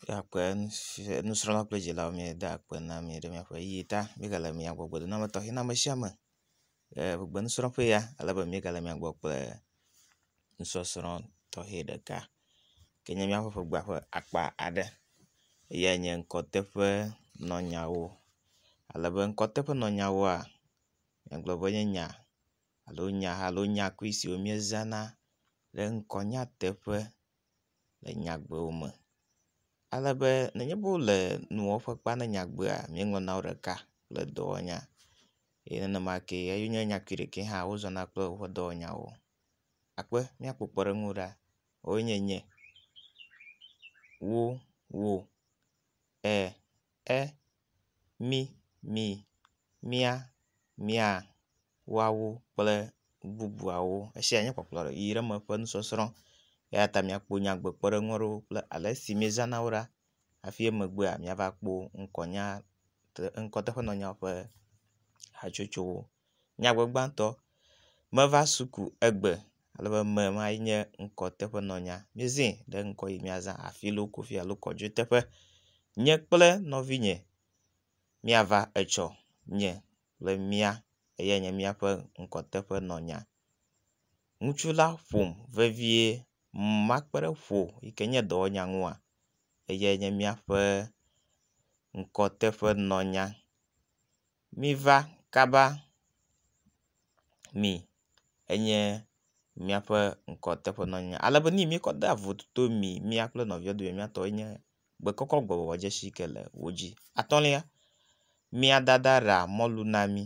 Míakpe nusrɔ̃la kple dzilawo míade akpe na mi ɖe míaƒe ʋeyiʋi ta. Mígale mia gbɔ gbedodoɖa tɔxɛ na ame sia ame le gbegbemesrɔ̃ƒe ya ale be mígale mia gbɔ kple nusɔsrɔ̃ tɔxɛ ɖeka ke nye míaƒe ƒegbea ƒe akpa aɖe. Eyae nye ŋkɔteƒenɔnyawo ale be ŋkɔteƒenɔnyawoa egblɔ be enye nya alo nya alo nyakui siwo míezãna ɖe ŋkɔnyateƒe. le nyagbewo me ale be nenye be wole nuwɔƒe kpea ne nyagbea míeŋlɔ na wo ɖeka kple dɔwɔnya ye nenema ke eyi nye nyakui ɖekee hã wozɔna kple woƒe dɔwɔnyawo. Akpe míakpɔ kpɔɖeŋu ɖa woe nye nye, wo, wo, e. e, mi, mi, mía, mia, woawo kple bubuawo. Esia nye kpɔkplɔ le ʋi ɖe me ƒe nusɔsrɔ̃ eya ta miakpɔ nyagbekpɔɖeŋu aɖewo kple ale si miezãna wo ɖa hafi emegbea miava kpɔ ŋkɔnya te ŋkɔteƒenɔnyawo ƒe hatsotsowo. Nyagbegbãtɔ, meva suku egbe ale be eme ma ye nye ŋkɔ teƒe nɔnya. Míezɛ ɖe ŋkɔ yi míazã afi yi loko fi alo kɔ dzo teƒe. Nye kple nɔvinye míava etsɔ nye kple mía eyae nye míaƒe ŋkɔ teƒe nɔnya. Ŋutsu la ƒom vevie makpeɖeƒo yi ke nye dɔwɔnya ŋua eyae nye míaƒe ŋkɔ teƒe nɔnya. Miva kaba mi enye míaƒe ŋkɔ teƒe nɔ anyi ale be ne yi mi kɔ de vototo mi mía kple nɔvia dome mía tɔe nye be kɔkɔ gbɔwɔ dzesi ke le wo dzi. Atɔ̃lia, mía dada ɖea mɔlu na mí,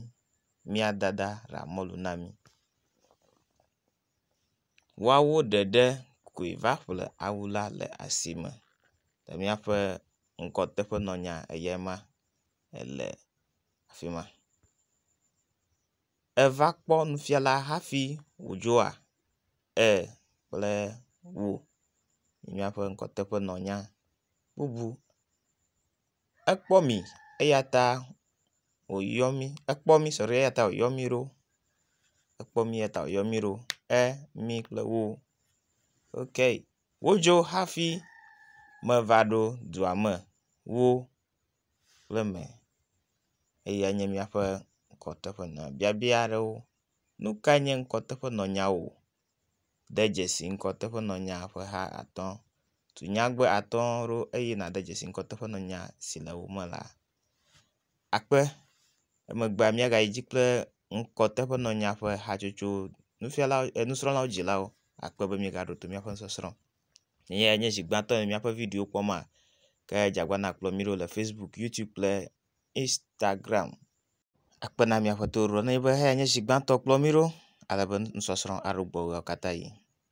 mía dada ɖea mɔlu na mí. Woawo ɖeɖe koe va ƒle awu la le asime le míaƒe ŋkɔ teƒe nɔ anya eyae ma. ele afi ma. Eva kpɔ nufiala hafi wòdzoa? e kple o yi míaƒe ŋkɔteƒenɔnya bubu. Ekpɔ mi eya ta wòyɔ mí, ekpɔ mí sɔɖi eya ta wòyɔ mí ɖo, ekpɔ mí eya ta wòyɔ mí ɖo, e, mi kple o. Wodzo hafi meva ɖo dua me, wo. kple eme eye enye míaƒe ŋkɔteƒenɔ biabia aɖewo. Nu kae nye ŋkɔteƒenɔnyawo? De dzesi ŋkɔteƒenɔnya ƒe ha atɔ̃. Tu nyagbe atɔ̃ ɖo eye nàde dzesi ŋkɔteƒenɔnya si le wo me la. Akpe, emegbea míagayi edzi kple ŋkɔteƒenɔnya ƒe hatsotso nufiala e nusrɔ̃lawo dzilawo akpe be míegaɖo to míaƒe nusɔsrɔ̃. Eyae nye zi gbãtɔ le míaƒe video kpɔm maa ke dzagbana kplɔ mí ɖo le Facebook, YouTube kple Instagram. Akpe na mi Aƒetɔ Ewuɖɔ ne enye be eyae nye zi gbãtɔ kplɔ mí ɖo ale be nusɔsrɔ̃ aɖo gbɔwò ɣeawo katã ɣi.